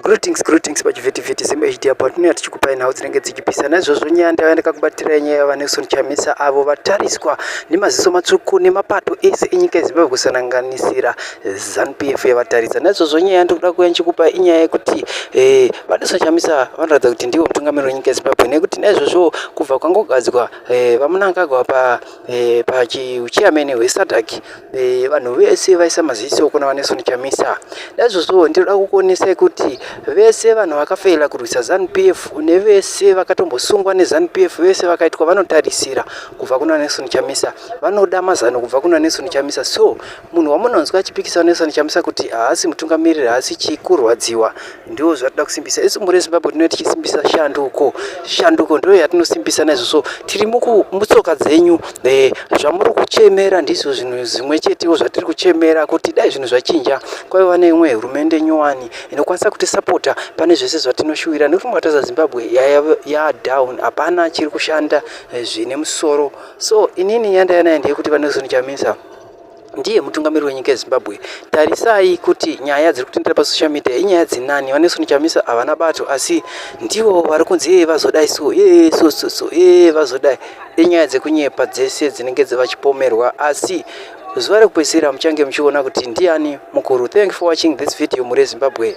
Greetings, greetings pachivhitivhiti Zim HD apo tinouya tichikupai nhau dzinenge dzichipisa naizvozvo nyaya ndaiva ndakakubatirai nyaya yaVaNelson Chamisa avo vatariswa nemaziso matsvuku nemapato ese enyika yeZimbabwe kusananganisira ZanuPF yavatarisa naizvozvo nyaya yandikuda kuuya ndichikupai inyaya yekuti eh, VaNelson Chamisa vanoratidza kuti ndivo mutungamiri wenyika yeZimbabwe nekuti naizvozvo kubva kwangogadzwa eh, VaMnangagwa pa Eh, pachiuchiamene hwesadhaki eh, vanhu vese vaisa maziso kuna vaneson chamisa naizvozvo ndinoda kukuonesai kuti vese vanhu vakafeila kurwisa zanp f nevese vakatombosungwa nezanp f vese vakaitwa vanotarisira kubva kuna neson chamisa vanoda mazano kubva kuna neson chamisa so Munhu wamunonzwa achipikisa Nelson Chamisa kuti haasi mutungamiriri haasi chii kurwadziwa ndiwo zvatida kusimbisa isu mhuri yezimbabwe tinove tichisimbisa shanduko shanduko ndiyo yatinosimbisa naizvo so tiri mutsoka dzenyu eh, zvamuri kuchemera ndizvo zvinhu zvimwe chetewo zvatiri kuchemera kuti dai zvinhu zvachinja kwaiva neimwe hurumende nyowani inokwanisa kutisapota pane zvese zvatinoshuwira nekuti mukataza zimbabwe yadown hapana chiri kushanda eh, zvine musoro so inini yandayanayo ndeyekuti vanelson chamisa ndiye mutungamiri wenyika yezimbabwe tarisai kuti nyaya dziri kutendera pasocial media inyaya dzinani vaneson chamisa havana bato asi ndivo vari kunzi yee vazodai so yee so so so yee vazodai inyaya dzekunyepa dzese dzinenge dzevachipomerwa asi zuva rekupedzisira muchange muchiona kuti ndiani mukuru thank for watching this video muri yezimbabwe